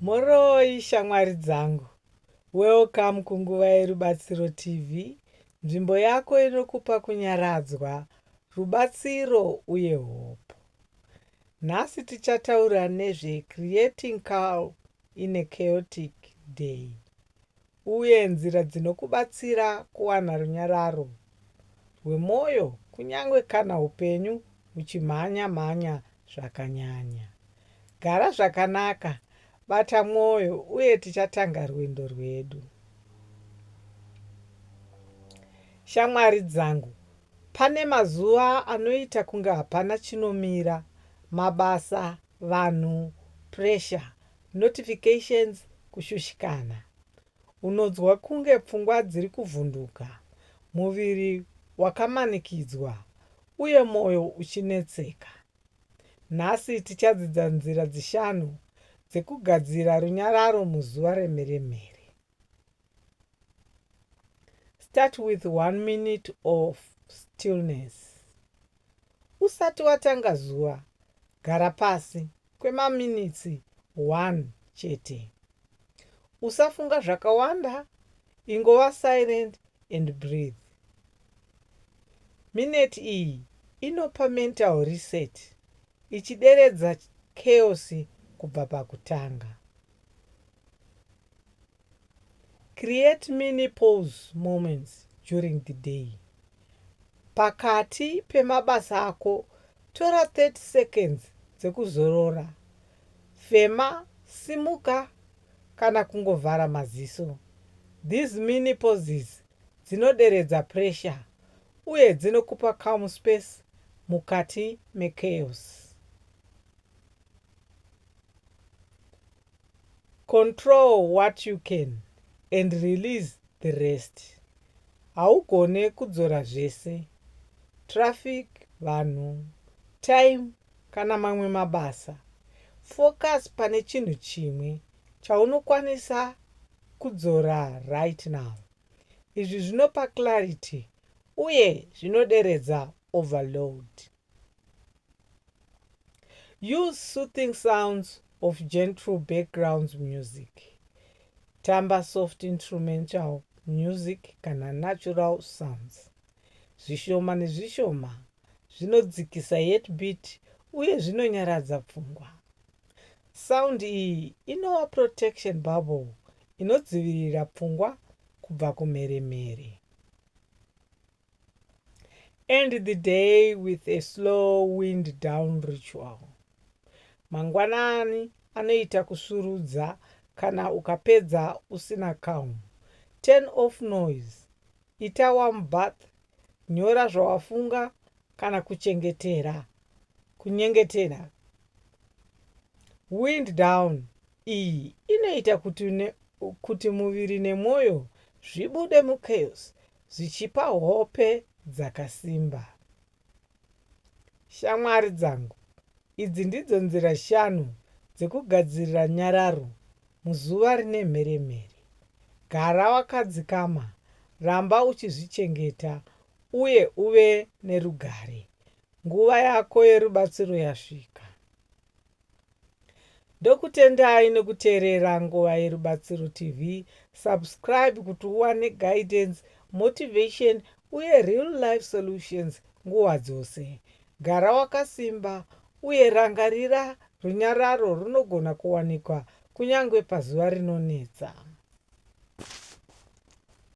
Mhoroi shamwari dzangu. Welcome kunguva yeRubatsiro TV, nzvimbo yako inokupa kunyaradzwa, rubatsiro uye hope. Nhasi tichataura nezve Creating Calm in a Chaotic Day. uye nzira dzinokubatsira kuwana runyararo rwemwoyo kunyange kana upenyu huchimhanya-mhanya zvakanyanya. Gara zvakanaka, bata mwoyo, uye tichatanga rwendo rwedu. Shamwari dzangu, pane mazuva anoita kunge hapana chinomira, mabasa vanhu pressure, notifications kushushikana, unonzwa kunge pfungwa dziri kuvhunduka, muviri wakamanikidzwa uye moyo uchinetseka. Nhasi tichadzidza nzira dzishanu dzekugadzira runyararo muzuva remheremhere. start with one minute of stillness usati watanga zuva gara pasi kwemaminitsi 1 chete usafunga zvakawanda ingova silent and breathe mineti iyi inopa mental reset ichideredza chaos kubva pakutanga Create mini pause moments during the day. Pakati pemabasa ako, tora 30 seconds dzekuzorora. Fema, simuka kana kungovhara maziso. These mini pauses dzinoderedza pressure uye dzinokupa calm space mukati mechaos. Control what you can and release the rest. Haugone kudzora zvese. Traffic, vanhu, time kana mamwe mabasa. Focus pane chinhu chimwe chaunokwanisa kudzora right now. Izvi zvinopa clarity uye zvinoderedza overload. Use soothing sounds of gentle backgrounds music. Tamba soft instrumental music kana natural sounds. Zvishoma nezvishoma zvinodzikisa yet beat uye zvinonyaradza pfungwa. Sound iyi inova protection bubble inodzivirira pfungwa kubva kumheremhere. End the day with a slow wind down ritual. Mangwanani anoita kusvirudza kana ukapedza usina calm. Turn off noise. Ita warm bath. Nyora zvawafunga kana kuchengetera. Kunyengetera. Wind down iyi inoita kuti, ne, kuti muviri nemwoyo zvibude muchaos zvichipa hope dzakasimba. Shamwari dzangu, idzi ndidzo nzira shanu dzekugadzirira nyararo muzuva rine mheremhere. Gara wakadzikama, ramba uchizvichengeta, uye uve nerugare. Nguva yako yerubatsiro yasvika. Ndokutendai nekuteerera Nguva Yerubatsiro TV. Subscribe kuti uwane guidance, motivation uye real life solutions nguva dzose. Gara wakasimba uye rangarira runyararo runogona kuwanikwa kunyange pazuva rinonetsa.